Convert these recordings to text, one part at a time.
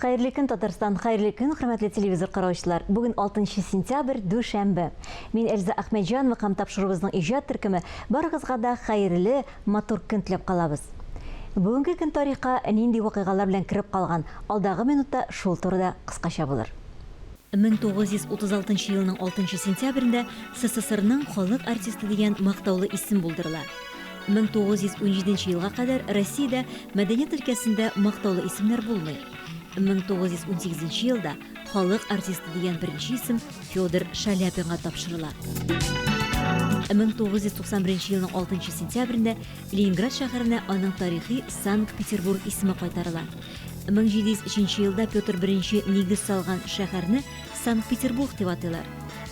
Хәерле көн, Татарстан! Хәерле көн, хөрмәтле телевизор караучылар! Бүген 6 сентябрь, дүшәмбе. Мин Эльза Әхмәтҗанова һәм тапшыруыбызның иҗат төркеме барыгызга да хәерле, матур көн теләп калабыз. Бүгенге көн тарихка нинди вакыйгалар белән кереп калган, алдагы минутта шул турыда кыскача булыр. 1936 нчы елның 6 нчы сентябрендә СССРның халык артисты дигән мактаулы исем булдырыла. 1917 нче елга кадәр Россиядә мәдәният өлкәсендә мактаулы исемнәр булмый. 1918 нче елда халык артисты дигән беренче исем Федор Шаляпинга тапшырыла. 1991 елның 6 нчы сентябрендә Ленинград шәһәренә аның тарихи Санкт-Петербург исеме кайтарыла. 1703 елда Петр I нигез салган шәһәрне Санкт-Петербург дип атыйлар.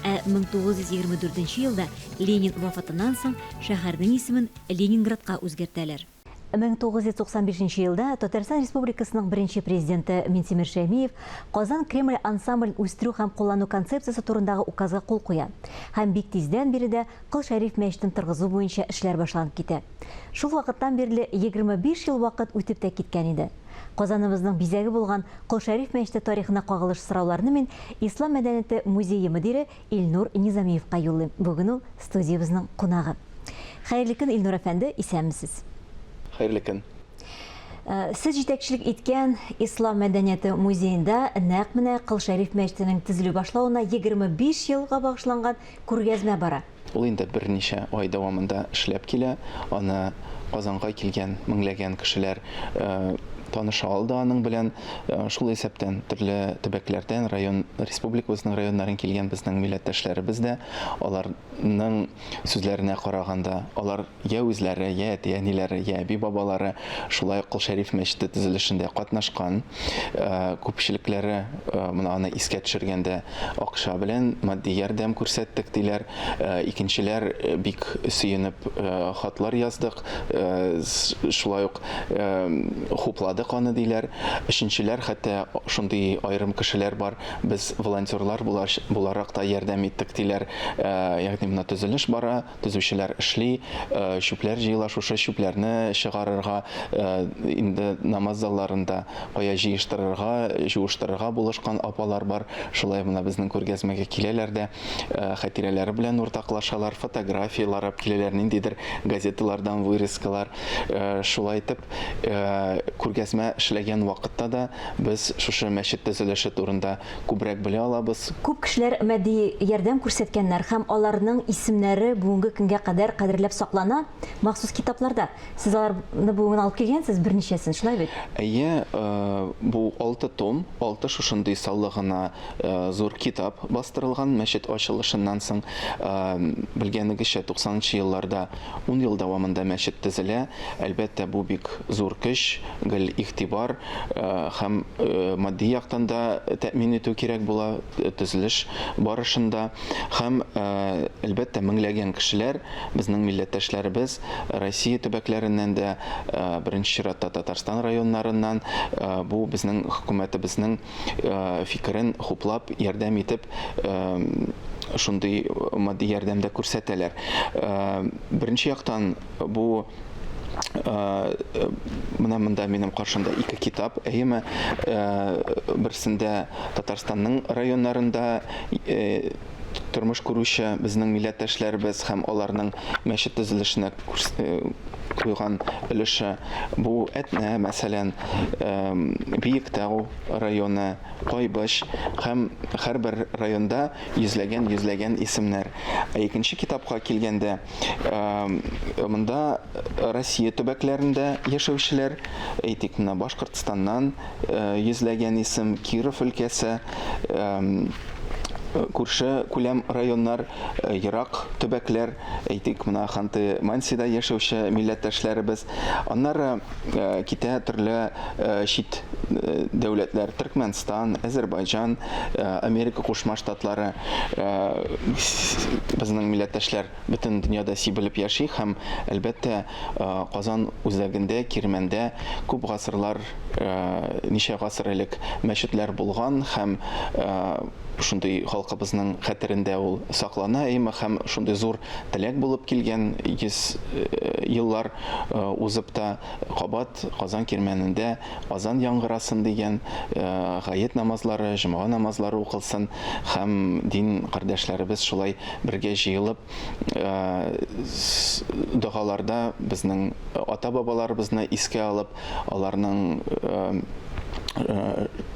Ә 1924 елда Ленин вафатыннан соң шәһәрнең исемен Ленинградка үзгәртәләр. 1995 елда Татарстан Республикасының беренче Президенты Минтимер Шәймиев Казан Кремль ансамблен үстерү һәм куллану концепциясе турындагы указга кул куя һәм бик тиздән биредә Кол Шәриф мәчетен торгызу буенча эшләр башланып китә. Шул вакыттан бирле 25 ел вакыт үтеп тә киткән иде. Казаныбызның бизәге булган Кол Шәриф мәчете тарихына кагылыш сорауларны мин Ислам мәдәнияте музее мөдире Илнур Низамиевка юллыйм, бүген ул студиябезнең кунагы. Хәерле көн, Илнур әфәнде, исәнмесез! Хәерле көн! Сез җитәкчелек иткән Ислам мәдәнияте музеенда нәкъ менә Кыл Шәриф мәчетенең төзелү башлавына 25 елга багышланган күргәзмә бара. Ул инде берничә ай дәвамында эшләп килә. Аны Казанга килгән меңләгән кешеләр таныша алды аның белән. Шул исәптән төрле төбәкләрдән, район, республикабызның районнарын килгән безнең милләттәшләребез дә. Аларның сүзләренә караганда, алар Йә үзләре, йә әти-әниләре, йә әби-бабалары шулай ук Кол Шәриф мәчете төзелешендә катнашкан. Күпчелекләре менә аны искә төшергәндә акча белән матди ярдәм күрсәттек, диләр. Икенчеләр бик сөенеп хатлар яздык, шулай ук хупладык аны, диләр. Өченчеләр хәтта шундый аерым кешеләр бар, без волонтерлар буларак та ярдәм иттек, диләр. Ягъни менә төзелеш бара. Төзүчеләр эшли, чүпләр җыела, шушы чүпләрне чыгарырга, инде намаз залларында кая җыештырырга, җуыштырырга булышкан апалар бар. Шулай гына безнең күргәзмәгә киләләр дә, хәтирәләре белән уртаклашалар, фотографияләр алып киләләр, ниндидер газеталардан вырезкалар. Шулай итеп, күргәзмә эшләгән вакытта да без шушы мәчет төзелеше турында күбрәк белә алабыз. Күп кешеләр матди ярдәм күрсәткәннәр һәм аларның исемнәре бүгенге көнгә кадәр кадерләп саклана махсус китапларда. Сез аларны бүген алып килгәнсез, берничәсен, шулай бит? Әйе, бу алты том, алты шушындый саллы гына зур китап бастырылган мәчет ачылышыннан соң. Белгәнегезчә, туксанынчы елларда ун ел дәвамында мәчет төзелә. Әлбәттә, бу бик зур көч, гел игътибар. һәм матди яктан да тәэмин итү кирәк була төзелеш барышында. Һәм, әлбәттә, меңләгән кешеләр, безнең милләттәшләребез Россия төбәкләреннән дә, беренче чиратта Татарстан районнарыннан бу безнең хөкүмәтебезнең фикерен хуплап, ярдәм итеп, шундый матди ярдәм дә күрсәтәләр. Беренче яктан, бу менә монда минем каршымда ике китап әйеме берсендә татарстанның районнарында тормыш күрүче безнең милләттәшләребез һәм аларның мәчет төзелешенә куйган өлеше бу әтнә мәсәлән биектау районы кайбыч һәм һәрбер районда йөзләгән йөзләгән исемнәр ә икенче китапка килгәндә Монда Россия төбәкләрендә яшәүчеләр, әйтик, менә Башкортстаннан йөзләгән исем, Киров өлкәсе, күрше күләм районнар, э, ерак төбәкләр, әйтик, менә Ханты-Мансида яшәүче милләттәшләребез. Аннары Э, китә төрле э, чит э, дәүләтләр Төркмәнстан, Әзербайҗан, Америка Кушма Штатлары безнең милләттәшләр бөтен дөньяда сибелеп яши һәм әлбәттә Казан үзәгендә Кирмәндә күп гасырлар ничә гасыр элек мәчетләр булган һәм шундый халкыбызның хәтерендә ул саклана имы һәм шундый зур теләк булып килгән 100 еллар узып та, кабат Казан кирмәнендә азан яңгырасын дигән, гает намазлары, җомга намазлары укылсын һәм дин кардәшләребез шулай бергә җыелып, догаларда безнең ата-бабаларыбызны искә алып, аларның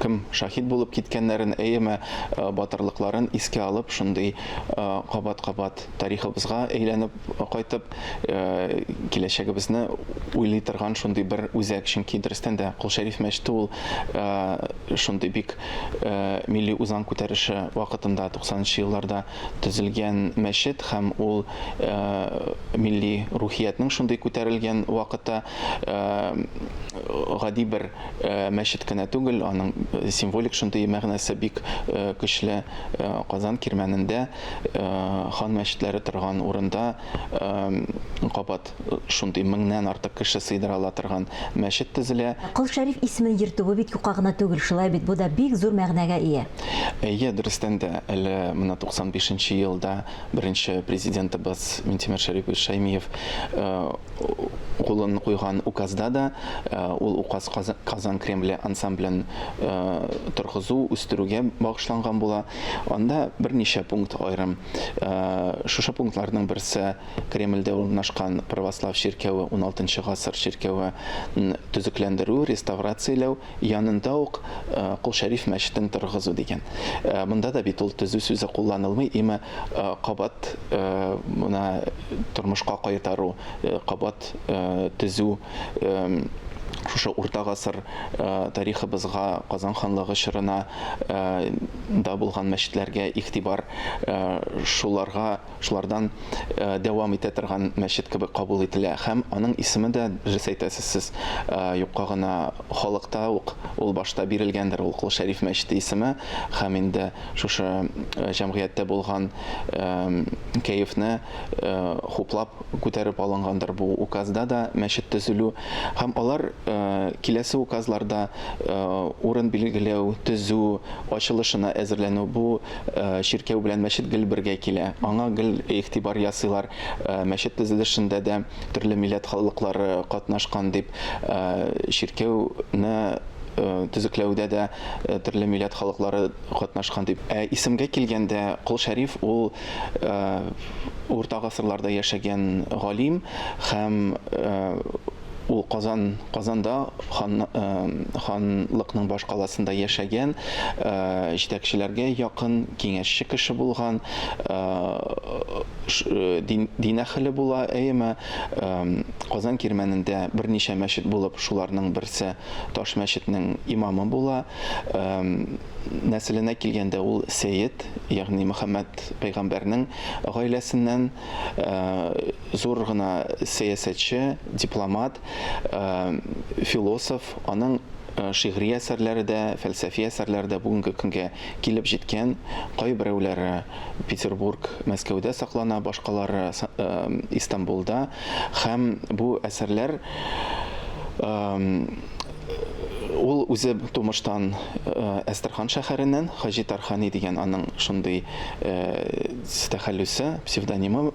кем шаһит булып киткәннәрен, әйеме, батырлыкларын искә алып, шундый кабат-кабат тарихыбызга әйләнеп кайтып, киләчәгебезне уйлый торган шундый бер үзәк, чөнки дөрестән дә Кол Шәриф мәчете ул шундый бик милли үзаң күтәреше вакытында 90 нчы елларда төзелгән мәчет һәм ул милли рухиятнең шундый күтәрелгән вакыты гади бер мәчет кенә түгел, аның символик шундый мәгънәсе бик көчле Казан кирмәнендә. Хан мәчетләре торган урында кабат шундый меңнән артык кеше сыйдыра ала торган мәчет төзелә. Кол Шәриф исемен йөртүе бит юкка гына түгел, шулай бит, бу да бик зур мәгънәгә ия. Әйе, дөрестән дә, әле менә 95 нче елда беренче Президентыбыз Минтимер Шәрипович Шәймиев кулын куйган указда да, ул указ Казан Кремле ансамблен торгызу, үстерүгә багышланган була. Анда берничә пункт аерым. Э, шушы пунктларның берсе Кремльдә урнашкан православ чиркәве 16 гасыр чиркәве төзекләндерү, реставрацияләү, янында ук э, Кол Шәриф мәчетен торгызу дигән. Э, монда да бит ул төзү сүзе кулланылмый, имә кабат мына тормышка кайтару, кабат төзү шушы урта гасыр тарихыбызга, Казан ханлыгы чорына да булган мәчетләргә игътибар шуларга, шулардан дәвам итә торган мәчет кебек кабул ителә. Һәм аның исеме дә, дөрес әйтәсез сез, юкка гына халыкта ук ул башта бирелгәндер ул Кол Шәриф мәчете исеме. Һәм инде шушы җәмгыятьтә булган кәефне хуплап, күтәреп алынгандыр бу указда да мәчет төзелү һәм алар киләсе указларда урын билгеләү, төзү, ачылышына әзерләнү бу чиркәү белән мәчет гел бергә килә, аңа гел игътибар ясыйлар, мәчет төзелешендә дә төрле милләт халыклары катнашкан дип, чиркәүне төзекләүдә дә төрле милләт халыклары катнашкан дип. Ә исемгә килгәндә, Колшәриф ул Урта гасырларда яшәгән галим һәм ул Казан Казанда хан ханлыкның башкаласында яшәгән җитәкчеләргә якын, киңәшче кеше булган, дин дин әһеле була, әеме Казан Кирмәнендә берничә мәчет булып, шуларның берсе Таш мәчетнең имамы була. нәселенә килгәндә, ул сәет, ягъни Мөхәммәд пәйгамбәрнең гаиләсеннән, зур гына сәясәтче, дипломат, философ, аның шигъри әсәрләре дә, фәлсәфи әсәрләре дә бүгенге көнгә килеп җиткән, кайберәүләре Петербург, Мәскәүдә саклана, башкалары Истанбулда һәм бу әсәрләр Ул үзе тумыштан Әстерхан шәһәреннән, Хаҗи Тархани дигән аның шундый тәхәллүсе, псевдонимы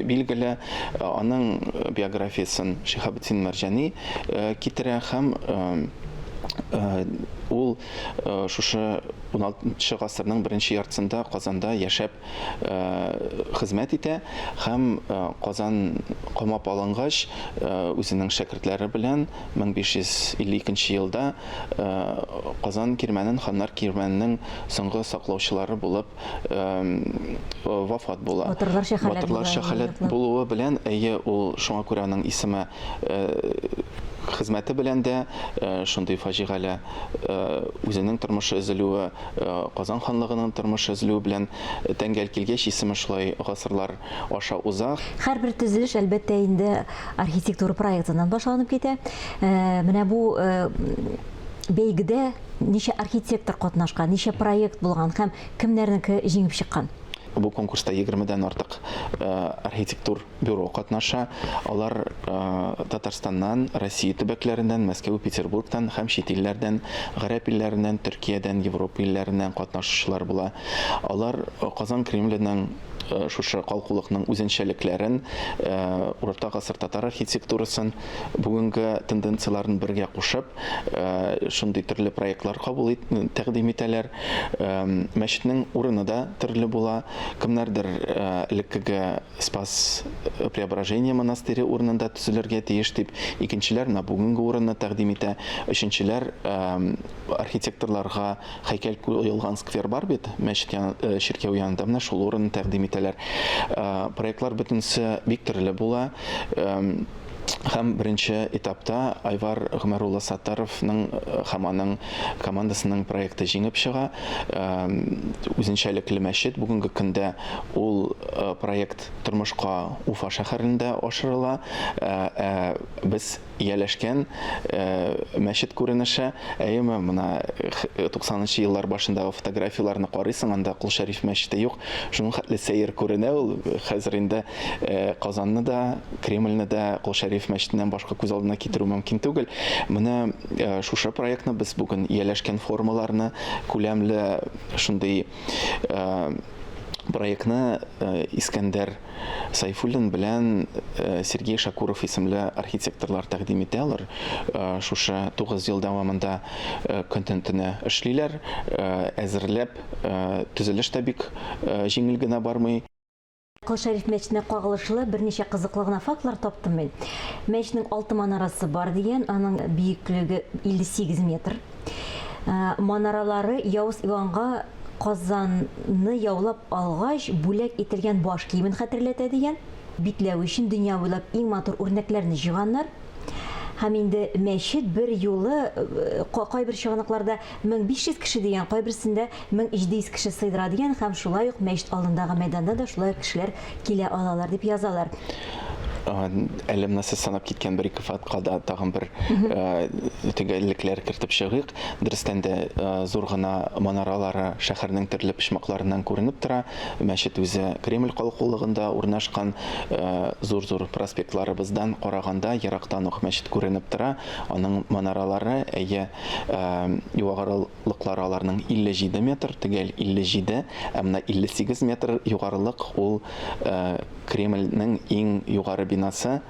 билгеле. Аның биографиясен Шиһабетдин Мәрҗани китерә һәм ул шушы уналтынчы гасырның беренче яртысында Казанда яшәп хезмәт итә һәм Казан камап алынгач, үзенең шәкертләре белән 1552 елда Казан кирмәнен ханнар кирмәненең соңгы саклаучылары булып вафат була. Батырлар Шәхәләт була. Батырлар Шәхәләт булуы белән, әйе, ул шуңа күрә аның исеме хезмәте белән дә шундый фаҗигале үзенең тормышы өзелүе Казан ханлыгының тормыш өзелүе белән тәңгәл килгәч, исеме шулай гасырлар аша уза. Һәрбер төзелеш, әлбәттә инде, архитектура проектыннан башланып китә. Менә бу бәйгедә ничә архитектор катнашкан, ничә проект булган һәм кемнәрнеке җиңеп чыккан? Бу конкурста егермедән артык архитектур Бюро катнаша, алар Татарстаннан, Россия төбәкләреннән, Мәскәү, Петербургтан һәм чит илләрдән, гарәп илләреннән, Төркиядән, Европа илләреннән катнашучылар була. Алар Казан Кремленең шушы калкулыкның үзенчәлекләрен, урта гасыр татар архитектурасын, бүгенге тенденцияләрен бергә кушып, шундый төрле проектлар кабул тәкъдим итәләр. Мәчетнең урыны да төрле була. Кемнәрдер элеккеге Спас-Преображение монастыре урынында төзелергә тиеш дип, икенчеләр менә бүгенге урынны тәкъдим итә. Өченчеләр архитекторларга һәйкәл куелган сквер бар бит, мәчет ян, э, чиркәү янында менә шул урынны тәкъдим итәләр. Э, проектлар бөтенесе бик төрле була. Э, Һәм беренче этапта Айвар Гомәр улы Саттаровның һәм аның командасының проекты җиңеп чыга. Үзенчәлекле мәчет, бүгенге көндә ул проект тормышка Уфа шәһәрендә ашырыла. Ә без ияләшкән мәчет күренеше, әйеме, менә 90 нчы еллар башындагы фотографияләрне карыйсың, анда Кол Шәриф мәчете юк, шуның хәтле сәер күренә ул. Хәзер инде Казанны да, Кремльне дә Кол Шәриф мәчетеннән башка күз алдына китерү мөмкин түгел. Менә шушы проектны без бүген ияләшкән формаларны, күләмле шундый проектны Искәндәр Сайфуллин белән Сергей Шакуров исемле архитекторлар тәкъдим итә. Алар шушы 9 ел дәвамында көн-төн эшлиләр, әзерләп, төзелеш тә бик җиңел генә бармый. Кол Шәриф мәчетенә кагылышлы берничә кызыклы гына фактлар таптым мин. Мәчетнең алты манарасы бар дигән, аның биеклеге 58 метр. Ә, манаралары Явыз Иванга Казанны яулап алгач бүләк ителгән баш киемен хәтерләтә дигән. Битләве өчен дөнья буйлап иң матур үрнәкләрне җыйганнар. Һәм инде мәчет бер юлы кайбер чыганакларда 1500 кеше дигән, кайберсендә 1700 кеше сыйдыра дигән һәм шулай ук мәчет алдындагы мәйданда да шулай ук кешеләр килә алалар дип язалар. Әле менә сез санап киткән бер-ике фактка да тагын бер төгәллекләр кертеп чыгыйк. Дөрестән дә зур гына манаралары шәһәрнең төрле почмакларыннан күренеп тора. Мәчет үзе Кремль калкулыгында урнашкан. Зур-зур проспектларыбыздан караганда ерактан ук мәчет күренеп тора. Аның манаралары, әйе, югарылыклары аларның 57 метр, төгәл 57, ә менә 58 метр югарылык ул Кремльнең иң югары бинасы.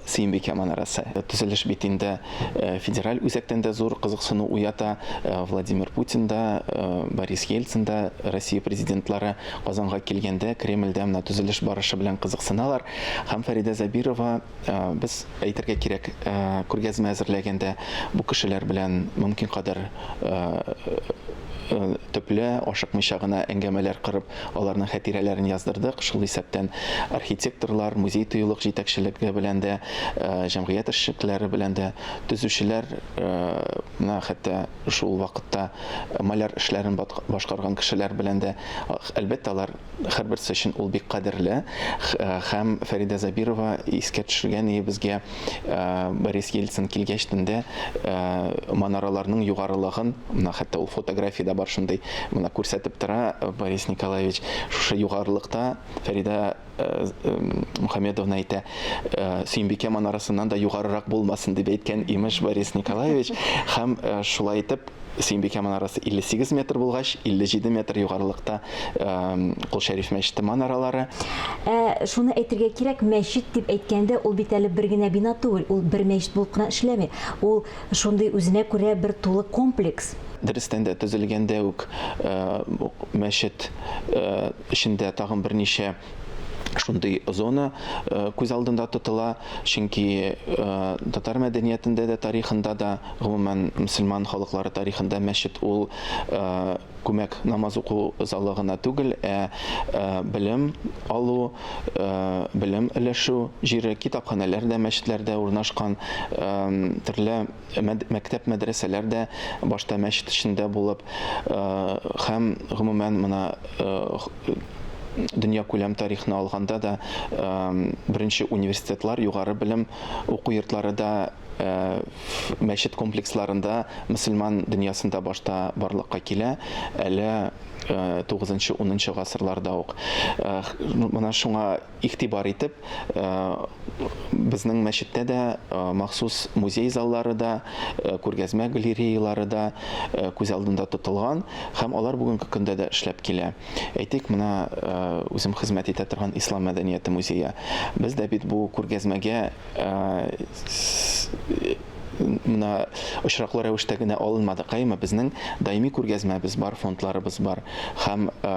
Сөембикә манарасы. Төзелеш бит инде федераль үзәктән дә зур кызыксыну уята. Владимир Путин да, Борис Ельцин да, Россия президентлары Казанга килгәндә Кремльдә менә төзелеш барышы белән кызыксыналар. Һәм Фәридә Забирова без әйтергә кирәк, күргәзмә әзерләгәндә бу кешеләр белән мөмкин кадәр төпле, ашыкмыйча гына әңгәмәләр кырып Аларның хәтирәләрен яздырдык. Шул исәптән архитекторлар, музей-тыюлык җитәкчелеге белән дә, җәмгыять эшлеклеләре белән дә, төзүчеләр, менә хәтта шул вакытта маляр эшләрен башкарган кешеләр белән дә. Әлбәттә, алар һәрберсе өчен ул бик кадерле. Һәм Фәридә Забирова искә төшергән иде безгә. Борис Ельцин килгәч төндә манараларның югарылыгын, менә хәтта ул фотографиядә бар шундый, менә күрсәтеп тора Борис Николаевич, шушы югарылыкта Фәридә Мухамедовна әйтә, Сөембикә манарасыннан да югарырак булмасын дип әйткән, имеш, Борис Николаевич, һәм шулай итеп Сөембикә манарасы 58 метр булгач, 57 метр югарылыкта Кол Шәриф мәчете манаралары. Ә шуны әйтергә кирәк, мәчет дип әйткәндә, ул бит әле бер генә бина түгел, ул бер мәчет булып кына эшләми. Ул шундый үзенә күрә бер тулы комплекс. Дөрестән дә, төзелгәндә үк мәчет эчендә тагын берничә шундый зона э, күз алдында тотыла, чөнки э, татар мәдәниятендә дә, тарихында да, гомумән мөселман халыклары тарихында мәчет ул э, күмәк намаз уку залы гына түгел, ә белем алу, белем өләшү җире, китапханәләр дә мәчетләрдә урнашкан, төрле мәктәп-мәдрәсәләр дә башта мәчет эчендә булып һәм, гомумән, менә дөньякүләм тарихны алганда да беренче университетлар, югары белем уку йортлары да мәчет комплексларында мөселман дөньясында башта барлыкка килә, әле тугызынчы-унынчы гасырларда ук. Менә шуңа Игътибар итеп, безнең мәчеттә дә махсус музей заллары да, күргәзмә галереялары да күз алдында тотылган һәм алар бүгенге көндә дә эшләп килә. Әйтик, менә үзем хезмәт итә торган Ислам мәдәнияте музее. Без дә бит бу күргәзмәгә мына очраклы рәвештә генә алынмадык әйме безнең даими күргәзмәбез бар фондларыбыз бар һәм э,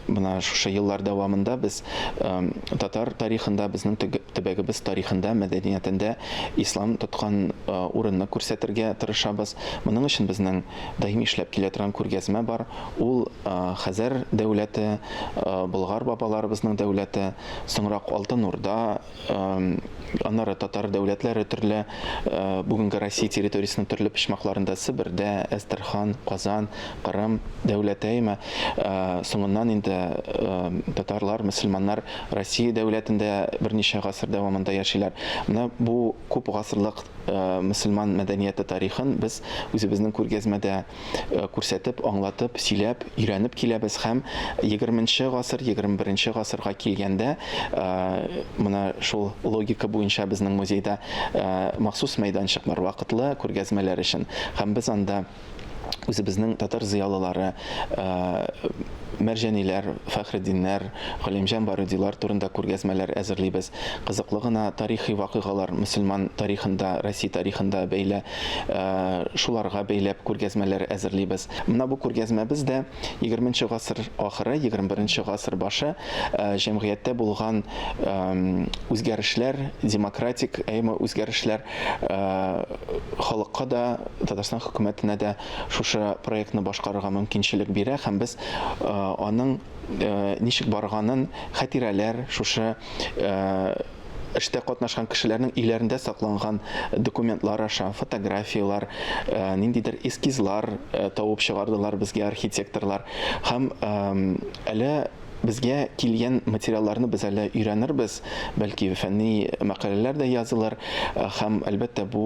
мына шушы еллар дәвамында без э, татар тарихында безнең төбәгебез тарихында мәдәниятендә ислам тоткан э, урынны күрсәтергә тырышабыз моның өчен безнең даими эшләп килә торган күргәзмә бар ул хәзәр дәүләте болгар бабаларыбызның дәүләте соңрак алтын урда Аннары татар дәүләтләре төрле бүгенге Россия территориясенең төрле почмакларында Себердә, Әстерхан, Казан, Кырым, Дәүләтәймә, соңыннан инде татарлар, мөселманнар Россия дәүләтендә берничә гасыр дәвамында яшиләр. Менә бу күп гасырлык мөселман мәдәнияте тарихын без үзебезнең күргәзмәдә күрсәтеп, аңлатып, сөйләп, өйрәнеп киләбез һәм егерменче гасыр, егерме беренче гасырга килгәндә, менә шул логика буенча безнең музейда махсус мәйданчык бар, вакытлы күргәзмәләр өчен. Һәм без анда үзебезнең татар зыялылары, Мәрҗәниләр, Фәхреддиннәр, Галимҗан Барыйдилар турында күргәзмәләр әзерлибез. Кызыклы гына тарихи вакыйгалар, мөселман тарихында, Россия тарихында бәйле Шуларга бәйләп күргәзмәләр әзерлибез. Менә бу күргәзмәбез дә егерме нче гасыр ахыры, егерме бер нче гасыр башы җәмгыятьтә булган үзгәрешләр, демократик әйме үзгәрешләр халыкка да, Татарстан хөкүмәтенә дә шушы проектны башкарырга мөмкинчелек бирә һәм без аның ничек барганын хәтирәләр шушы Эштә катнашкан кешеләрнең өйләрендә сакланган документлар аша фотографияләр, ниндидер эскизлар табып чыгардылар безгә архитекторлар. Һәм әле безгә килгән материалларны без әле өйрәнербез, бәлки фәнни мәкаләләр дә язылыр. Һәм, әлбәттә, бу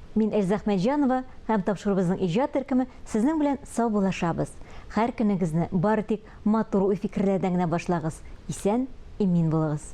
Мин Эльза Әхмәтҗанова һәм тапшыруыбызның иҗат төркеме сезнең белән саубуллашабыз. Һәр көнегезне бары тик матур уй-фикерләрдән генә башлагыз, исән, имин булыгыз!